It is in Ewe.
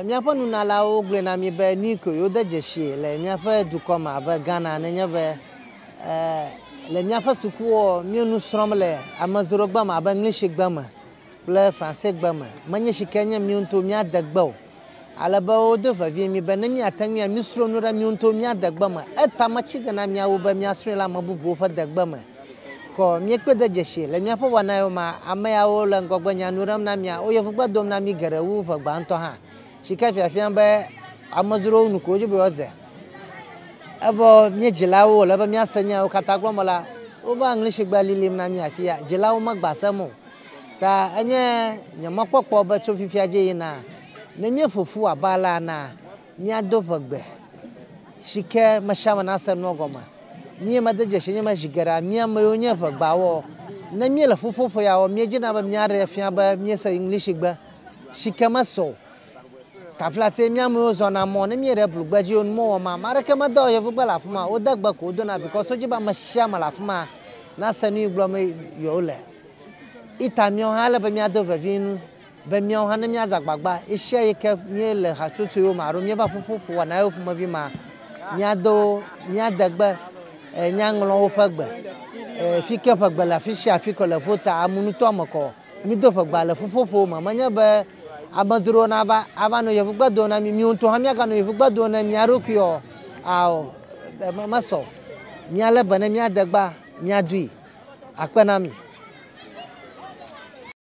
Míaƒe nunalawo gblɔe na mí be nui koe wode dzesii le míaƒe dukɔ me abe Ghana nenye be le míaƒe sukuwo mío nu srɔ̃m le amedzrogbe me abe Ŋlishigbe me kple Fransegbe me. Menye shike nye mío ŋutɔwo míade gbe o. Ale be wodo vevie mí be ne míate ŋui anu srɔ̃ nu ɖe mío ŋutɔwo míade gbe me. Etama tsi ge na míawo be míasrɔ̃e le ame bubuwo ƒe degbe me. Kɔ míekpe de dzesi le míaƒe wɔnaewo me. Ameawo le ŋgɔgbenya nu ɖem na mía, woyɔ ŋugbe dom na mí geɖe wu ƒe gbãtɔ hã. Tsike fiafia be amedzrowo nu ko wodi be yewoadze. Evɔ mía dzilawo wòle be míase nya yewo katã gblɔm la, wova Englishgbe lilim na mí afia. Dzilawo megbã sem o. Ta enye nye mɔkpɔkpɔ be tso fifia dzi yina, ne míeƒo ƒu abe alea na Míado ʋegbe si ke mesiame nase nua gɔme. Mía me de dzesi nye me zi geɖea mía me yewo nye ʋegbawɔ. Ne míele ƒuƒoƒo ya wɔm, míedzina be míaɖee afia be míese Englishigbe si ke mese o. Tafilatie mía me yewo zɔna mɔ. Ne míeɖe blugbe dzi nu mewɔ ma, ame aɖeke medɔ ɣe Yevugbe le afi ma o. Wode gbe ko wodona bikɔs wodi be ame sia ame le afi ma nase nu yi gblɔm yewole. Ita míawo hã ele be míado vevie nu. Be míawo hã ne míaze agbagba ɣesiaɣi ke míele hatsotsoewo me alo míeva ƒuƒoƒowɔnawo ƒomevi mea, míado míade gbe nyaŋlɔwo ƒe gbe fi ke ƒegbe le afi sia afi ke le Volta amunutɔa me kɔ. Mído ƒegbea le ƒuƒoƒowo me. Menye be amedzrowo nava ava nɔ yevugbe dom na mí, míwo ŋutɔ hã míaganɔ yevugbe dom na mía ɖokui o. Ao, mesɔ o. Míalé be ne míade gbea, míadoe. Akpe na mi.